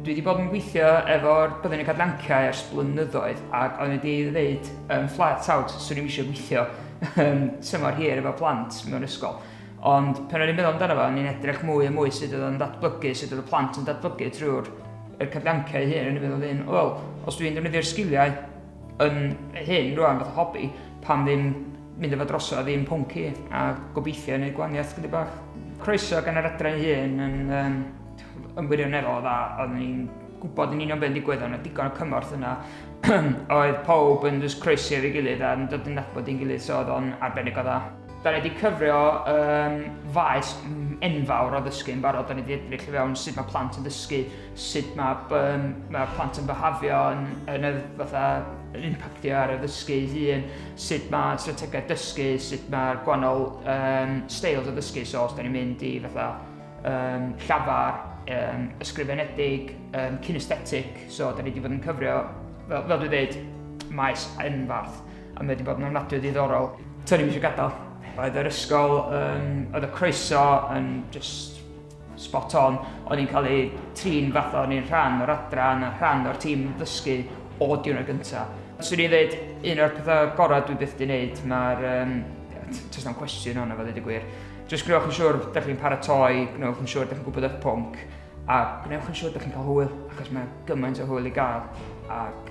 Dwi wedi bod yn gweithio efo'r byddin y cadlanciau ers blynyddoedd ac o'n wedi ddeud um, flat out, swn i'n eisiau gweithio um, tymor hir efo plant mewn ysgol. Ond pan o'n i'n meddwl amdano fo, o'n i'n edrych mwy a mwy sut oedd o'n datblygu, sut oedd y plant yn datblygu trwy'r cadlanciau hyn, o'n i'n meddwl un, wel, os dwi'n defnyddio'r sgiliau yn hŷn rwan fatha hobi, pam ddim mynd â fo drosodd a ddim pwnci a gobeithio wneud gwaniaeth gyda bach. Croeso gan yr adran ei hun yn um, yn wirioneddol o dda, oeddwn ni'n gwybod yn union beth yn digwydd, ond digon o cymorth yna. oedd pawb yn just croesi efo'i gilydd a'n dod yn nabod i'n gilydd, so oedd o'n arbennig o dda. Da ni wedi cyfrio um, faes enfawr o ddysgu yn barod, da ni wedi edrych i fewn sut mae plant yn dysgu sut mae yym mae plant yn byhafio yn yn y fatha yn impactio ar y ddysgu ei hun, sut mae strategaeth dysgu, sut mae'r gwahanol um, styles o ddysgu, so os da ni'n mynd i fatha um, llafar, um, ysgrifenedig, um, kinesthetic, so da ni wedi bod yn cyfrio, fel, fel dwi dweud, maes enfarth, a mae wedi bod yn ofnadwy ddiddorol. Tony, mi eisiau gadael. Oedd yr ysgol, um, oedd y croeso yn just Spot on, o'n i'n cael eu trin fatha o'n i'n rhan o'r adran a rhan o'r tîm ddysgu o diwrnod gyntaf. Swn i'n dweud, un o'r pethau gorau dwi byth di wneud, mae'r... Um, Tos na'n cwestiwn hwnna, fe ddweud y gwir. Just gwnewch yn siŵr, da chi'n paratoi, gwnewch yn siŵr, da chi'n gwybod eich pwnc, a gwnewch yn siŵr, da chi'n cael hwyl, achos mae gymaint o hwyl i gael, ac